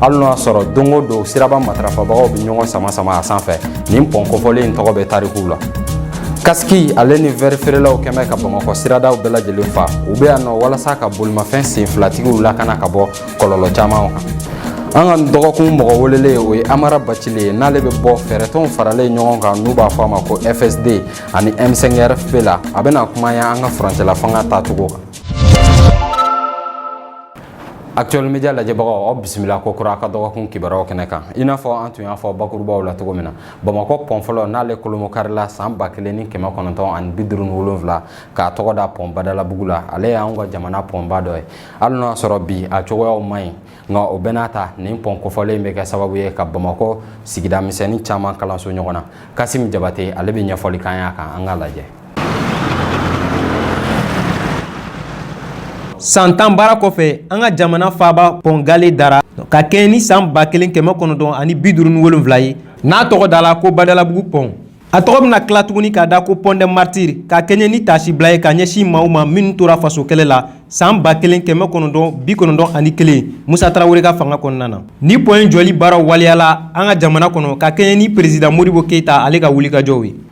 hali n'o y'a sɔrɔ don o don siraba matarafabagaw bɛ ɲɔgɔn sama sama a sanfɛ nin pɔn kofɔlen in tɔgɔ bɛ tarikuw la kasiki ale ni vɛri feerelaw kɛn bɛ ka bamakɔ siradaw bɛɛ lajɛlen fa u bɛ yan nɔ walasa ka bolimafɛn senfilatigiw lakana ka bɔ kɔlɔlɔ caman kan an ka dɔgɔkun mɔgɔ welelen o ye amara bacile ye n'ale bɛ bɔ fɛɛrɛtɔnw faralen ɲɔgɔn kan n'u b'a fɔ a ma ko fsd ani m5rfp la a bɛna kuma yan an ka furancɛla fanga tacogo kan Actuel Media lajɛbagaw aw bisimila ko kura ka dɔgɔkun kibaruyaw kɛnɛ kan i n'a fɔ an tun y'a fɔ bakurubaw la cogo min na bamakɔ pɔn fɔlɔ n'ale kolomo karila san ba kelen ni kɛmɛ kɔnɔntɔn ani bi duuru ni wolonwula k'a tɔgɔ da pɔn badalabugu la ale y'an ka jamana pɔnba dɔ ye hali n'o y'a sɔrɔ bi a cogoyaw man ɲi nka o bɛɛ n'a ta nin pɔn kofɔlen bɛ kɛ sababu ye ka bamakɔ sigida misɛnnin caman kalanso ɲɔgɔn na kasimi jabate ale bɛ ɲɛfɔli k'an y'a kan an k'a lajɛ San tan baara kɔfɛ an ka jamana faaba pɔn gale dara ka kɛɲɛ ni san ba kelen kɛmɛ kɔnɔntɔn ani bi duuru ni wolonwula ye n'a tɔgɔ dala ko badalabugu pɔn a tɔgɔ bɛna tila tuguni k'a da ko pont des martyrs ka kɛɲɛ ni taasibila ye ka ɲɛsin maaw ma minnu tora faso kɛlɛ la san ba kelen kɛmɛ kɔnɔntɔn bi kɔnɔntɔn ani kelen musa tarawele ka fanga kɔnɔna na nin pɔn in jɔli baara waleyala an ka jamana kɔnɔ ka kɛɲɛ ni peresidan modibo keyita ale ka wulikajɔw ye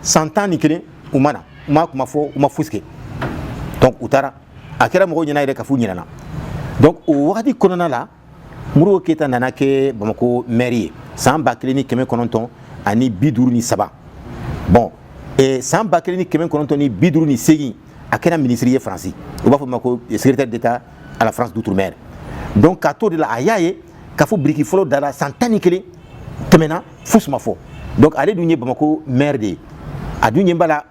san tan ni kelen u ma na u ma kuma fɔ u ma fosi kɛ donc u taara a kɛra mɔgɔw ɲɛna yɛrɛ k'a f'u ɲinɛna donc o wagati kɔnɔna la modibo keyita nana kɛ bamako mɛri ye san ba kelen ni kɛmɛ kɔnɔntɔn ani bi duuru ni saba bon eh, san ba kelen ni kɛmɛ kɔnɔntɔn ni bi duuru ni segin a kɛra minisiri ye faransi u b'a f'o ma ko secrétaire d'état à la france d'outre-mer donc k'a t'o de la a y'a ye k'a fɔ biriki fɔlɔ dara san tan ni kelen tɛmɛna fosi ma fɔ donc ale dun ye bamako maire de ye a dun ɲɛ b'a la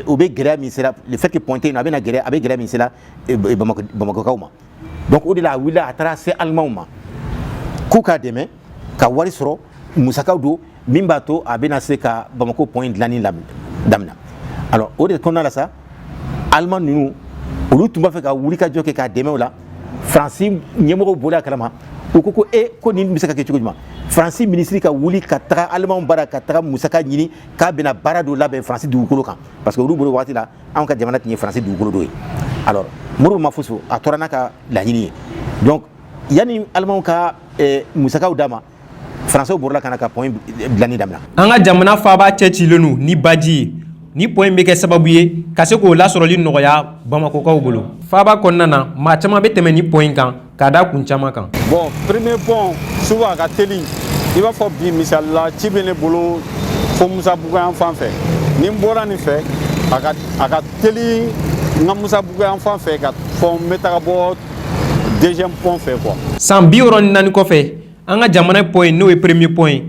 o bɛ gɛlɛya min sera le fait que pont tɛ yen nɔ a bɛna gɛlɛya a bɛ gɛlɛya min sera bamakɔkaw ma donc o de la a wulila a taara se alimanw ma k'u k'a dɛmɛ ka wari sɔrɔ musakaw don min b'a to a bɛna se ka bamako pont in dilanni daminɛ alors o de kɔnɔna la sa aliman ninnu olu tun b'a fɛ ka wulikajɔ kɛ k'a dɛmɛ o la faransi ɲɛmɔgɔw bɔla a kalama u ko ko e ko nin bɛ se ka kɛ cogo jumɛn faransi minisiri ka wuli ka taga alimanw bara ka taga musaka ɲini k'a bɛna baara dɔ labɛn faransi dugukolo kan parce que olu bolo waati la anw ka jamana tun ye faransi dugukolo dɔ ye alors modibo ma foso a tora n'a ka laɲini ye donc yanni alimanw ka eh, musakaw d'a ma faransiw borila ka na ka pɔn dilanni damina an ka jamana faaba cɛcilen don ni baji ye nin pɔn in bɛ kɛ sababu ye ka se k'o lasɔrɔli nɔgɔya bamakɔkaw bolo faaba kɔnɔna na maa caman bɛ tɛmɛ nin pɔn in kan k'a da kun caman kan bon premier pɔn souvent a ka teli i b'a fɔ bi misali la ci bɛ ne bolo fo musabugu yan fan fɛ ni n bɔra nin fɛ a ka teli n ka musabugu yan fan fɛ ka fɔ n bɛ taga bɔ deuxième pont fɛ quoi san bi wɔɔrɔ ni naani kɔfɛ an ka jamana pɔn in n'o ye premier pɔn ye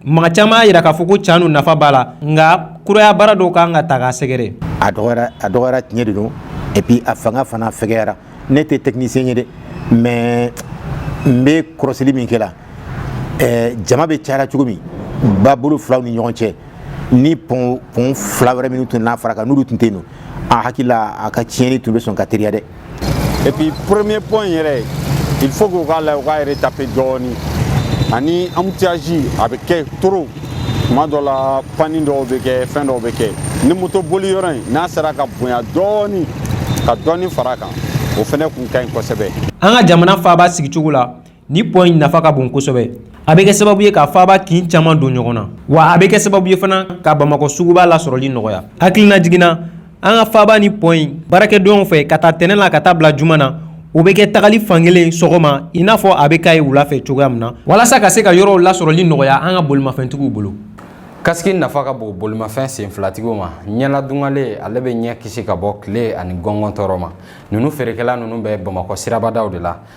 maa caman y'a jira k'a fɔ ko can don nafa b'a la nka kuraya baara dɔw kan ka taa k'a sɛgɛrɛ a dɔgɔyara a dɔgɔyara tiɲɛ de don et puis a fanga fana fɛgɛyara ne tɛ technicien ye dɛ mais n bɛ kɔrɔsili min kɛ la ɛɛ jama bɛ caya la cogo min babolo fila ni ɲɔgɔn cɛ ni pɔn pɔn fila wɛrɛ minnu tun n'a fara kan n'olu tun tɛ yen ne hakili la a ka tiɲɛni tun bɛ sɔn ka teliya dɛ et puis premier pont yɛrɛ il faut k'u k'a la u k'a yɛrɛ retaper dɔɔni ani embouteillage a bɛ kɛ trop tuma dɔ la panni dɔw bɛ kɛ fɛn dɔw bɛ kɛ ni moto boli yɔrɔ in n'a sera ka bonya dɔɔni ka dɔɔni fara a kan o fɛnɛ kun ka ɲi kosɛbɛ an ka jamana faaba sigicogo la Nin pɔn in nafa ka bon kosɛbɛ a bɛ kɛ sababu ye ka faaba kin caman don ɲɔgɔn na wa a bɛ kɛ sababu ye fana ka bamakɔ suguba lasɔrɔli nɔgɔya hakililajigin na an ka faaba nin pɔn in baarakɛdonw fɛ k'a ta tɛnɛ la ka taa bila juma na o bɛ kɛ tagali fankelen sɔgɔma i n'a fɔ a bɛ ka ye wula fɛ cogoya min na walasa ka se ka yɔrɔw lasɔrɔli nɔgɔya an ka bolimafɛntigiw bolo kasiki nafa ka bon bolimafɛn senfilatigiw ma ɲɛladungare ale bɛ ɲɛ kisi ka bɔ tile ani gɔngɔn tɔɔrɔ ma ninnu feerekɛla ninnu bɛ bamakɔ sirabadaw de la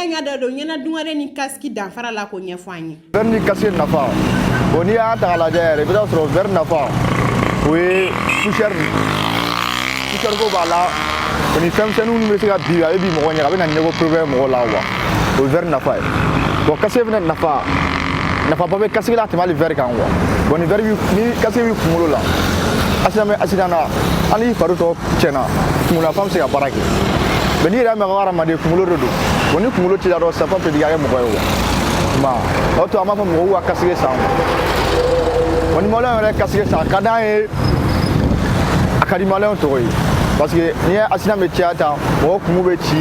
An ka da don ɲɛnadungare ni kasiki danfara la k'o ɲɛfɔ an ye. Vɛri ni kasiki nafa o n'i y'a ta k'a lajɛ yɛrɛ i bɛ t'a sɔrɔ vɛri nafa o ye poussière poussière ko b'a la o ni fɛn misɛnninw minnu bɛ se ka bin a bɛ bin mɔgɔ ɲɛ a bɛ na ɲɛko problème mɔgɔ la wa o ye vɛri nafa ye bon kasiki fana nafa nafaba bɛ kasiki la tɛmɛ hali vɛri kan wa bon ni vɛri ni kasiki b'i kunkolo la accident bɛ accident na hali i fari tɔ tiɲɛna kunkololafan bɛ se ka baara kɛ mais n'i yɛrɛ mɛn ko hadamaden kunkolo de don wa ni kunkolo t'i la dɔrɔn senfan tɛ k'a kɛ mɔgɔ ye wa ma o to an b'a fɔ mɔgɔw ka kasiki san wa ni maliyɛn yɛrɛ kasiki san a ka d'an ye a ka di maliyɛnw tɔgɔ ye parce que n'i ye accident bɛ caya tan mɔgɔ kunkolo bɛ ci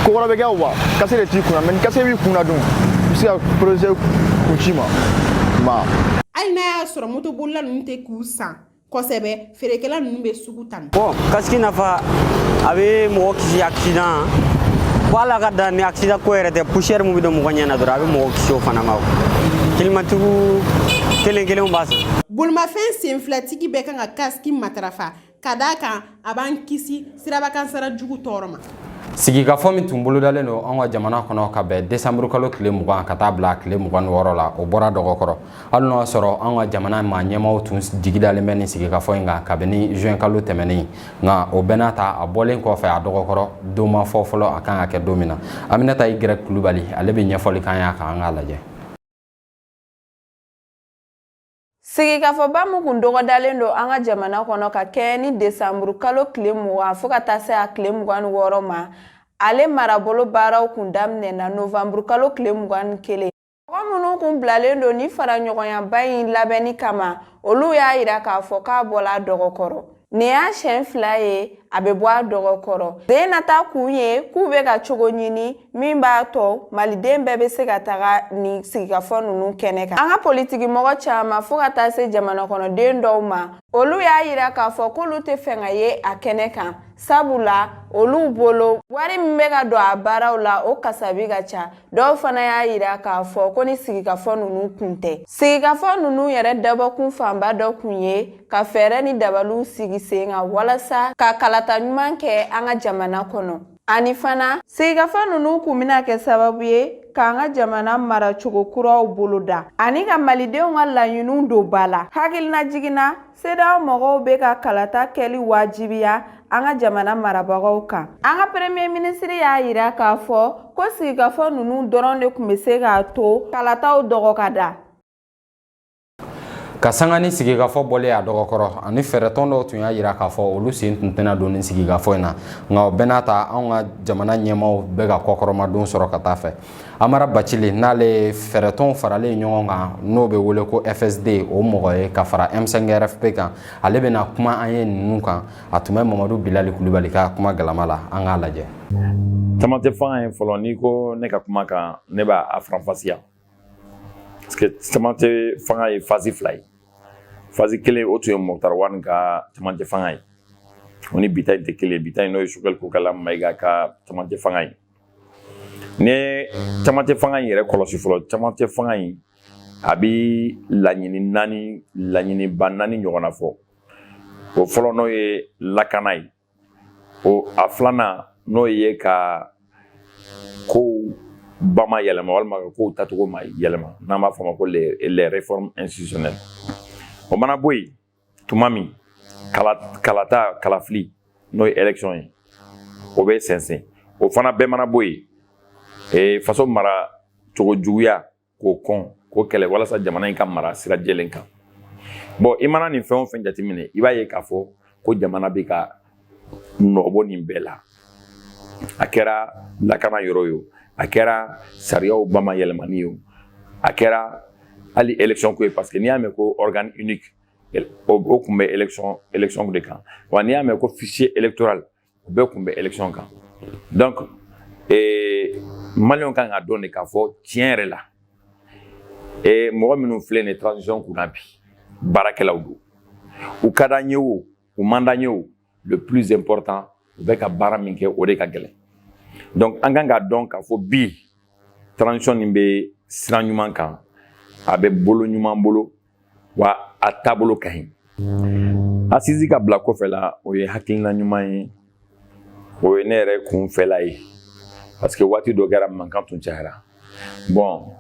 ko wɛrɛ bɛ kɛ wa kasiki de t'i kunna mais ni kasiki b'i kunna dun i bɛ se ka protéger kun ci ma ma hali n'a y'a sɔrɔ motobolila ninnu tɛ k'u san kosɛbɛ feerekɛla ninnu bɛ sugu tan bon kasiki nafa a bɛ mɔgɔ kisi accident fo ala ka dan ni accident ko yɛrɛ tɛ poussière min bɛ don mɔgɔ ɲɛ na dɔrɔn a bɛ mɔgɔ kisi o fana ma telimantigiw kelen kelenw b'a san bolimafɛn senfilatigi bɛɛ kan ka kasiki matarafa ka d'a kan a b'an kisi sirabakankasaara jugu tɔɔrɔ ma sigikafɔ min tun bolodalen don an ka jamana kɔnɔ ka bɛn desanburu kalo tile mugan ka taa bila tile mugan ni wɔɔrɔ la o bɔra dɔgɔ kɔrɔ hali n'o y'a sɔrɔ an ka jamana mara ɲɛmaaw tun jigidalen bɛ nin sigikafɔ in kan kabini juin kalo tɛmɛnen nka o bɛɛ n'a ta a bɔlen kɔfɛ a dɔgɔ kɔrɔ don ma fɔ fɔlɔ a kan ka kɛ don min na aminata i gɛrɛ kulubali ale bɛ ɲɛfɔli k'an y'a kan an k'a lajɛ Sigikafɔba min kun dɔgɔdalen don an ka jamana kɔnɔ ka kɛɲɛ ni desanburu kalo tile mugan fo ka taa se a tile mugan ni wɔɔrɔ ma ale marabolo baaraw kun daminɛna novanburu kalo tile mugan ni kelen mɔgɔ minnu kun bilalen don ni faraɲɔgɔnyaba in labɛnni kama olu y'a yira k'a fɔ k'a bɔla a dɔgɔkɔrɔ Nin y'a siɲɛ fila ye a bɛ bɔ a dɔgɔ kɔrɔ den nata kun ye k'u bɛ ka cogo ɲini min b'a to maliden bɛɛ bɛ se ka taga nin sigikafɔ ninnu kɛnɛ kan an ka politikimɔgɔ caman fo ka taa se jamana kɔnɔden dɔw ma olu y'a yira k'a fɔ k'olu tɛ fɛ ka ye a kɛnɛ kan sabula olu bolo wari min bɛ ka don a baaraw la o kasabi ka ca dɔw fana y'a yira k'a fɔ ko nin sigikafɔ ninnu kun tɛ sigikafɔ ninnu yɛrɛ dabɔkun fanba dɔ kun ye ka fɛɛrɛ ni dabaliw sigi sen kan walasa ka kalata ɲuman kɛ an ka jamana kɔnɔ ani fana sigikafɔ ninnu kun bɛna kɛ sababu ye k'an ka jamana maracogo kuraw boloda ani ka malidenw ka laɲiniw don ba la hakilinajigin na CEDEAO mɔgɔw bɛ ka kalata kɛli wajibiya an ka jamana marabagaw kan an ka premier minisiri y'a yira k'a fɔ ko sigikafɔ ninnu dɔrɔn de kun bɛ se k'a to kalataw dɔgɔ ka da ka sanga ni sigikafɔ bɔlen a dɔgɔkɔrɔ ani fɛɛrɛtɔn dɔw tun y'a yira k'a fɔ olu sen tun tɛna don nin sigikafɔ in na nka o bɛɛ n'a ta anw ka jamana ɲɛmaaw bɛ ka kɔkɔrɔmadon sɔrɔ ka taa fɛ amara bacili n'ale ye fɛɛrɛtɔnw faralen ɲɔgɔn kan n'o bɛ wele ko fsd o mɔgɔ ye ka fara m5 rfp kan ale bɛna kuma an ye ninnu kan a tun bɛ mamadu bilali kulubali ka kuma galama la an k'a lajɛ camancɛ fanga in fɔlɔ n'i ko ne ka kuma kan ne b'a faranfasiya camancɛ fanga ye phase fila ye phase kelen o tun ye moktar wani ka camancɛ fanga ye o ni bi ta in tɛ kelen bi ta in n'o ye sogɛli kokala mayiga ka camancɛ fanga ye ni camancɛ fanga in yɛrɛ kɔlɔsi fɔlɔ camancɛ fanga in a bi laɲini naani laɲiniba naani ɲɔgɔnna fɔ o fɔlɔ n'o ye lakana ye o a filanan n'o ye ka kow bamayɛlɛma walima ka kow tacogo mayɛlɛma n'an b'a fɔ ma ko les les réformes institutionnelles o mana bɔ yen tuma min kala kalata kalafili n'o ye élection ye o bɛ sɛnsɛn o fana bɛɛ mana bɔ yen ee faso mara cogo juguya k'o kɔn k'o kɛlɛ walasa jamana in ka mara sira jɛlen kan bon i mana nin fɛn o fɛn jateminɛ i b'a ye k'a fɔ ko jamana bɛ ka nɔbɔ nin bɛɛ la a kɛra lakana yɔrɔ ye o a kɛra sariyaw bamayɛlɛmani ye o a kɛra hali élection ko ye parce que n'i y'a mɛn ko organe unique o tun bɛ élection de kan wa n'i y'a mɛn ko fichier électoral o bɛɛ kun bɛ election kan donc ee eh, maliyɛnw kan ka dɔn de k'a fɔ tiɲɛ yɛrɛ la ee eh, mɔgɔ minnu filɛ nin ye transition kunna bi baarakɛlaw don u ka d'an ye o u man d'an ye o le plus important u bɛ ka baara min kɛ o de ka gɛlɛn donc an kan k'a dɔn k'a fɔ bi transition nin bɛ sira ɲuman kan a bɛ bolo ɲuman bolo wa a taabolo ka ɲi asizi ka bila kɔfɛ la o ye hakilina ɲuman ye o ye ne yɛrɛ kun fɛla ye parce que waati dɔ kɛra mankan tun cayara bon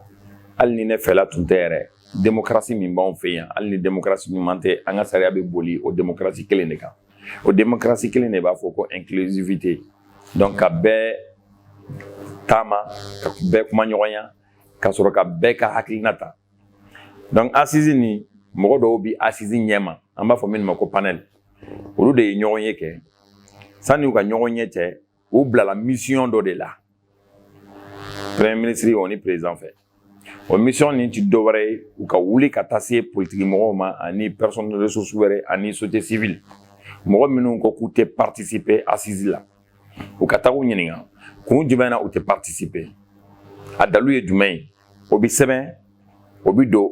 hali ni ne fɛla tun tɛ yɛrɛ demokarasi min b'anw fɛ yan hali ni demokarasi ɲuman tɛ an ka sariya bɛ boli o demokarasi kelen de kan o demokarasi kelen de b'a fɔ ko inclusivité donc ka bɛɛ taama ka bɛɛ kumaɲɔgɔnya ka sɔrɔ ka bɛɛ ka hakilina ta donc asizi nin mɔgɔ dɔw bi asizi ɲɛma an b'a fɔ minnu ma ko panel olu de ye ɲɔgɔnye kɛ sanni u ka ɲɔgɔnye cɛ u bilala misiyɔn dɔ de la premier ministre o ni président fɛ o misiyɔn nin ti dɔwɛrɛ ye u ka wuli ka taa se politiki mɔgɔw ma ani personne ressource wɛrɛ ani société civile mɔgɔ minnu ko k'u tɛ participer asizi la u ka taga u ɲininka kun jumɛn na u tɛ participer a dalu ye jumɛn ye o bɛ sɛbɛn o bɛ don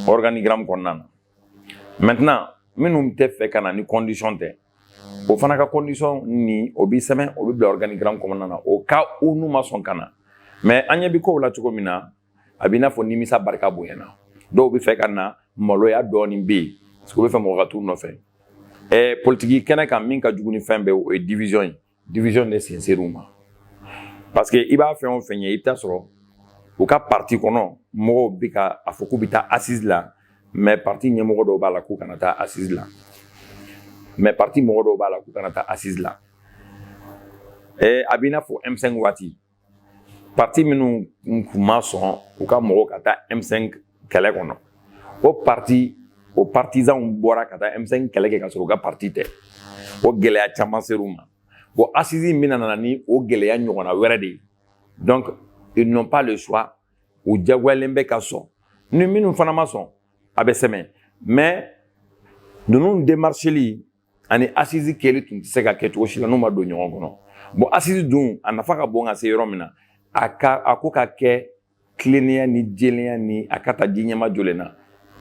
organigramme kɔnɔna na maintenant minnu tɛ fɛ ka na ni condition tɛ o fana ka condition ni o bɛ sɛbɛn o bɛ bila organigramme kɔnɔna na au cas où n'u ma sɔn ka na mais an ɲɛ bɛ kow la cogo min na a b'i n'a fɔ nimisa barika bonyana dɔw bɛ fɛ ka na maloya dɔɔnin bɛ yen u bɛ fɛ mɔgɔ ka t'u nɔfɛ ɛɛ politiki kɛnɛ kan min ka jugu ni fɛn bɛɛ o ye division ye division de sen ser'u ma parce que i ba fɛn o fɛn ye i bɛ taa sɔrɔ u ka parti kɔnɔ mɔgɔw bɛ ka a fɔ k'u bɛ taa assise la mais parti ɲɛmɔgɔ dɔw b'a la k'u kana taa assise la mais parti mɔgɔ dɔw b'a la k'u kana taa assise la ɛɛ a b'i n'a fɔ M5 waati pati minnu kun ma sɔn u ka mɔgɔw ka taa m5 kɛlɛ kɔnɔ o pati o partizanw bɔra ka taa m5 kɛlɛ kɛ ka sɔrɔ u ka pati tɛ o gɛlɛya caman ser'u ma bon asizi in bɛna na ni o gɛlɛya ɲɔgɔnna wɛrɛ de ye donc ils n'ont pas le choix u jagoyalen bɛ ka sɔn ni minnu fana ma sɔn a bɛ sɛbɛn mais ninnu demarcheli ani asizi kɛli tun tɛ se ka kɛ cogo si la n'u ma don ɲɔgɔn kɔnɔ bon asizi dun a nafa ka bon ka se yɔrɔ min na a ko ka kɛ tilennenya ni jɛlenya ni a ka ta ji ɲɛmajɔlen na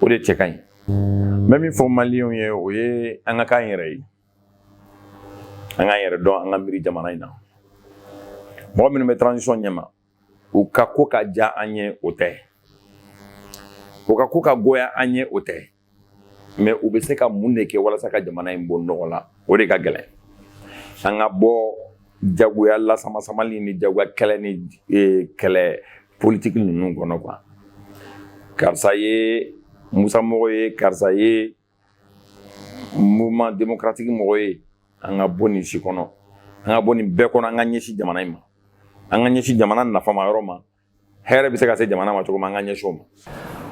o de cɛ ka ɲi n bɛ min fɔ maliyɛnw ye o ye an ka k'an yɛrɛ ye an k'an yɛrɛ dɔn an ka miiri jamana in na mɔgɔ minnu bɛ transition ɲɛma u ka ko ka diya an ye o tɛ u ka ko ka goya an ye o tɛ mɛ u bɛ se ka mun de kɛ walasa ka jamana in bɔ nɔgɔ la o de ka gɛlɛn an ka bɔ jagoya lasamasamali ni jagoya kɛlɛ ni e, kɛlɛ politiki ninnu kɔnɔ kuwa karisa ye musa mɔgɔ ye karisa ye mouvement démocratique mɔgɔ ye an ka bɔ nin si kɔnɔ an ka bɔ nin bɛɛ kɔnɔ an ka ɲɛsin jamana in ma an ka ɲɛsin jamana nafama yɔrɔ ma hɛrɛ bɛ se ka se jamana ma cogo min an ka ɲɛsin o ma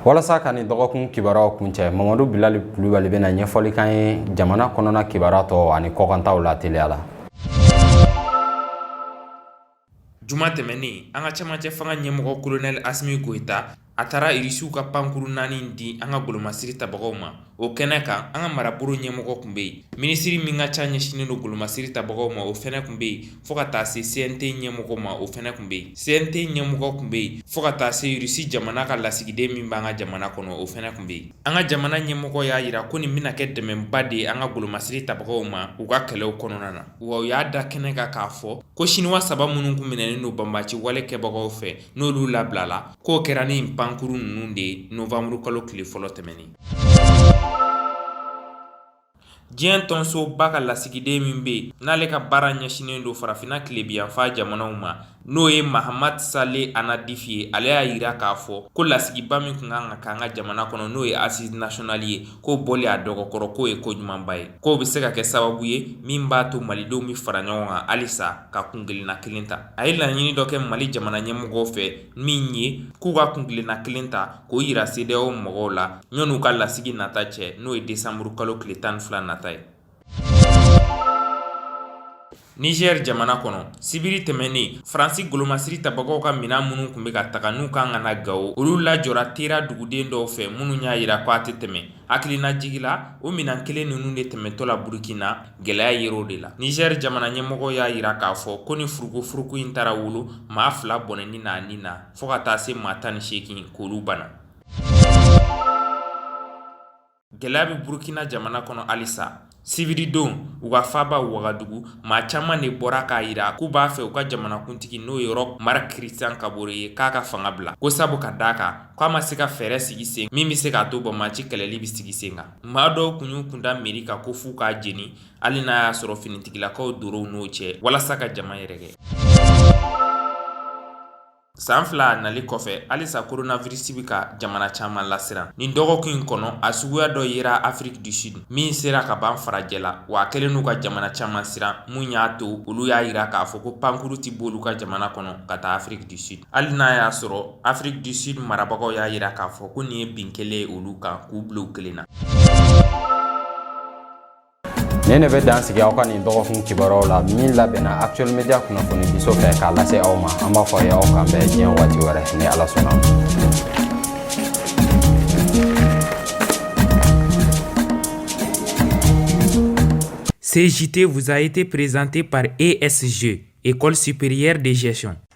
walasa ka nin dɔgɔkun kibaruyaw kuncɛ mamadu bilali kulubali bɛna ɲɛfɔli k'an ye jamana kɔnɔna kibaruya tɔ ani kɔkantaw la teliya la juma tɛmɛnen an ka camancɛ fanga ɲɛmɔgɔ kolonɛli asimi goyita a taara irisiw ka pankuru naani di an ka golomasiri tabagaw ma o kɛnɛ kan an ka marabolo ɲɛmɔgɔ tun bɛ yen minisiri min ka ca ɲɛsinnen don golomasiri tabagaw ma o fana tun bɛ yen fo ka taa se CNT ɲɛmɔgɔ ma o fana tun bɛ yen CNT ɲɛmɔgɔ tun bɛ yen fo ka taa se irisi jamana ka lasigiden min b'an ka jamana kɔnɔ o fana tun bɛ yen an ka jamana ɲɛmɔgɔ y'a jira ko nin bɛna kɛ dɛmɛba de ye an ka golomasiri tabagaw ma u ka kɛlɛw kɔnɔna na wa u y'a da kɛnɛ kan k'a fɔ ko siniwa saba minnu tun minɛnen don banbaci wale kɛbagaw fɛ n'olu labilala k'o kɛra ni pankuru ninnu de ye nowanburukalo tile fɔlɔ tɛmɛnen diɲɛ tɔnsoba ka lasigiden min bɛ yen n'ale ka baara ɲɛsinnen don farafinna tilebiyanfa jamanaw ma n'o ye mahamadu sale anadifi ye ale y'a jira k'a fɔ ko lasigiba min tun kan ka k'an ka jamana kɔnɔ n'o ye assises nationales ye k'o bɔli a dɔgɔkɔrɔ k'o ye ko ɲumanba ye k'o bɛ se ka kɛ sababu ye min b'a to malidenw bɛ fara ɲɔgɔn kan halisa ka kunkelenna kelen ta a ye laɲini dɔ kɛ mali jamana ɲɛmɔgɔw fɛ min ye k'u ka kunkelenna kelen ta k'o jira CEDEAO mɔgɔw la ɲɔn'u ka lasigi nata cɛ n'o ye desanburukalo tile tan ni fila nata ye Niger jamana kɔnɔ sibiri tɛmɛnen Faransi golomasiri tabagaw ka minɛn minnu tun bɛ ka taga n'u kan ka na Gawo olu lajɔra Tera duguden dɔw fɛ minnu y'a jira ko a tɛ tɛmɛ hakilinajigi la o minɛn kelen ninnu de tɛmɛtɔ la Burukina gɛlɛya yera o de la Niger jamana ɲɛmɔgɔw y'a jira k'a fɔ ko ni furukufuruku in taara wolo maa fila bɔnɛni na a ni na fo ka taa se maa tan ni seegin k'olu bana Gɛlɛya bɛ Burukina jamana kɔnɔ halisa. Sibiridon, u ka faaba Wagadugu, maa caman de bɔra k'a jira k'u b'a fɛ u ka jamanakuntigi n'o ye Roch Marc Christian Kabore ye k'a ka fanga bila, ko sabu ka d'a kan k'a ma se ka fɛɛrɛ sigi sen min bɛ se k'a to banbaci kɛlɛli bɛ sigi sen kan. Maa dɔw tun y'u kunda mɛri kan ko f'u k'a jeni, hali n'a y'a sɔrɔ finitigilakaw dor'u n'o cɛ, walasa ka jama yɛrɛkɛ. San fila nali kɔfɛ halisa koronavirisi bɛ ka jamana caman lasiran nin dɔgɔkun in kɔnɔ a suguya dɔ yera Afrique du Sud min sera kaban farajɛla wa a kɛlen don ka jamana caman siran min y'a to olu y'a yira k'a fɔ ko pankurun tɛ b'olu ka jamana kɔnɔ ka taa Afrique du Sud hali n'a y'a sɔrɔ Afrique du Sud marabagaw y'a yira k'a fɔ ko nin ye bin kɛlen ye olu kan k'u bila u kelen na nin de bɛ dan sigi aw ka nin dɔgɔkun kibaruyaw la min labɛnna actuel media kunnafoni diso fɛ k'a lase aw ma an b'a fɔ a ye aw k'an bɛn diɲɛ waati wɛrɛ ni ala sɔnna Ce JT vous a été présenté par ESG, École supérieure de gestion.